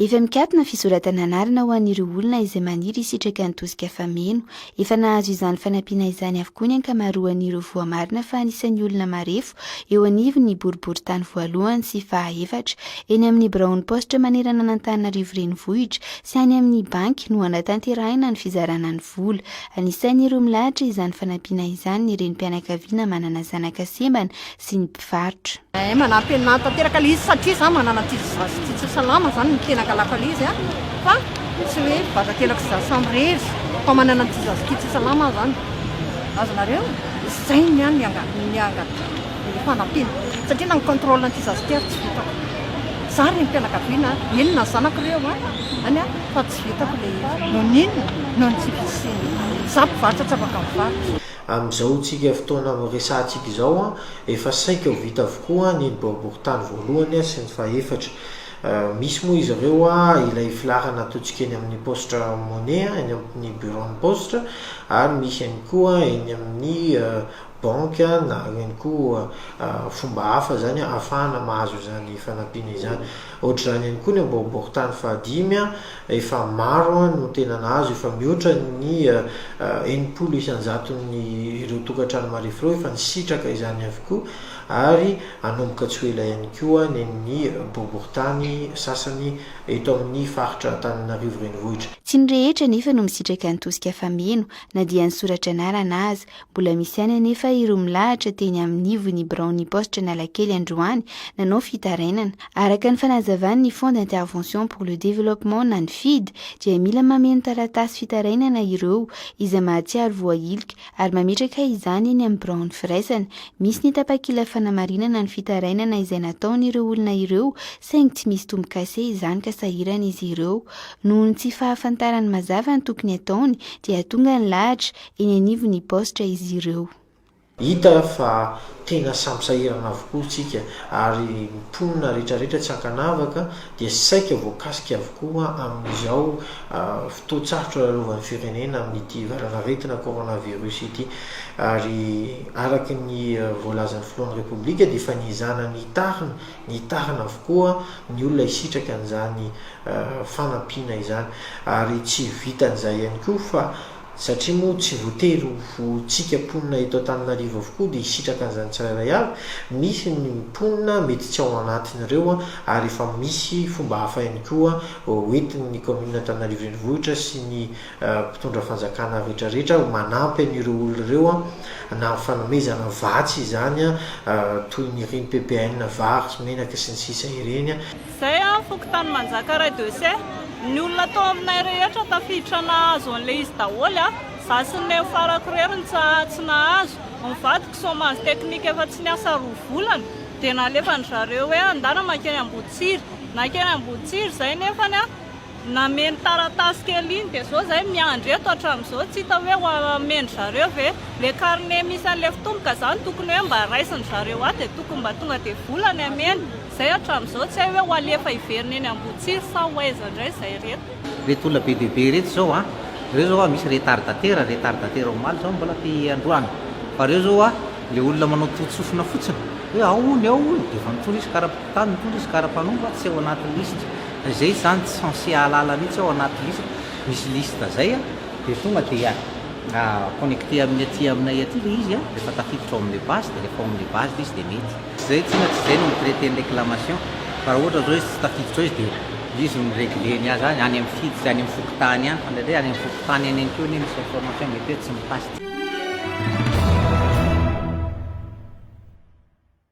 Efa mikatona fisoratana anarana ho an'ireo olona izay maniry hisitraka ny tosika fameno. Efa nahazo izany fanampiana izany avokoa ny ankamaroan'ireo voamarina fa anisan'ny olona marefo eo anivon'ny boriborintany voalohany sy fahaefatra. Eny amin'ny biraon'ny paositra manerana an'Antananarivo renivohitra sy any amin'ny banky no hanatanterahina ny fizarana ny vola. Anisan'ireo milahatra izany fanampiana izany ny renim-pianakaviana manana zanaka sembana sy ny mpivarotra. Eh manampy anah tanteraka le izy satria za manana ankizy zaza sy tsy salama zany no tena angalako anle izy an fa tsy hoe vazankelako sy za samy rery fa manana an'ity zaza ity tsy salama aho zany azonareo zay ny an ny anga ny fanampiana satria na ny controle an'ity zaza ity ary tsy vitako za reny mpianakaviana eny na zanako reo an any an fa tsy vitako le izy noho n'inona noho ny tsy fisiany za mpivarotra tsy afaka mivarotra Amin'izao tsika fotoana resahantsika izao, efa saika ho vita avokoa ny ny boriborintany voalohany sy ny fahefatra. Misy moa izy ireo ilay filaharana ataontsika eny amin'ny paositra money, eny amin'ny biraon'ny paositra, ary misy ihany koa eny amin'ny banky na ihany koa fomba hafa izany ahafahana mahazo izany fanampiana izany. Ohatr'izany ihany koa ny boriborintany fahadimy Efa maro no tena nahazo, efa mihoatra ny enimpolo isan-jaton'ny ireo tokantrano marefo ireo efa nisitraka izany avokoa ary hanomboka tsy ho ela ihany koa ny an'ny boriborintany sasany eto amin'ny faritra Antananarivo Renivohitra. Tsy ny rehetra anefa no misitraka ny tosika fameno na dia ny soratra anarana aza, Mbola misy ihany anefa ireo milahatra teny amin'ny ivon'ny biraon'ny paositra Analakely androany nanao fitarainana. Araka ny fanazavan'ny Fonds d'intervention pour le développement na ny fid dia mila mameno taratasy fitarainana ireo izay mahatsiaro voahilika ary mametraka izany eny amin'ny biraon'ny firaisana misy ny tapakila fanamarinana ny fitarainana izay nataon'ireo olona ireo saingy tsy misy tombo-kase izany ka sahirana izy ireo noho ny tsy fahafantarany mazava ny tokony ataony dia tonga ny lahatra eny anivon'ny baositra izy ireo. Hita fa tena samy sahirana avokoa isika ary ny mponina rehetrarehetra tsy ankanavaka dia saika voakasika avokoa amin'izao fotoan-tsarotra lalovan'ny firenena amin'ity valanaretina coronavirus ity ary araka ny voalazan'ny filohan'ny Repoblika dia efa niezana nitarina nitarina avokoa ny olona hisitraka an'izany fanampiana izany ary tsy vitan'izay ihany koa fa Satria moa tsy voatery ho tsika mponina eto Antananarivo avokoa dia hisitraka an'izany tsirairay avy, misy ny mponina mety tsy ao anatin'ireo ary efa misy fomba hafa ihany koa hoentin'ny kaominina Antananarivo Renivohitra sy ny mpitondra fanjakana rehetrarehetra manampy an'ireo olona ireo na amin'ny fanomezana vatsy izany toy ny ireny PPN vary sy menaka sy ny sisa ireny. Zay an fokontany manjakaray de se ny olona tao aminay rehetra tafiditra nahazo anle izy daholo an, za sy ny neny farako irery no tsatsy nahazo, ny vadiko chomage technique efa tsy niasa roa volana de nalefany zareo hoe andana makeny ambohitsiry, nakeny ambohitsiry zay nefany an nameno taratasy kely iny de zao zay miandry eto atramizao tsy hita hoe ho ameny zareo ve le carnet misy anle fitomboka zany tokony hoe mba raisiny zareo ato de tokony mba tonga de vola ny ameny. Izay hatramin'izao, tsy hay hoe ho alefa hiverina eny Ambohitsiry sa ho aiza indray izay ireto. Ireto olona be dia be ireto izao an! Ireo izao an, misy retardataire, retardataire omaly izao mbola te androany, fa ireo izao an, ilay olona manao toton-tsofina fotsiny, hoe ao hono, ao hono, dia efa nitory izy, kara-mpitantana nitory izy, kara-mpanompo, tsy ao anaty lisitra, fa izay izany tsy censé hahalala mihitsy ao anaty lisitra, misy liste izay an, dia tonga dia connecté amin'ny aty aminay aty ilay izy an, rehefa tafiditra ao amin'ilay base, dia rehefa ao amin'ilay base ilay izy dia mety. Tsy izay tsy inona tsy izay no mi-traiter ny réclamation fa raha ohatra izao izy tsy tafiditra ao izy dia izy no mi-regler ny azy any any amin'ny fidy sy any amin'ny fokontany any fa indraindray any amin'ny fokontany any ihany koa anie misy information mety hoe tsy mi-pass.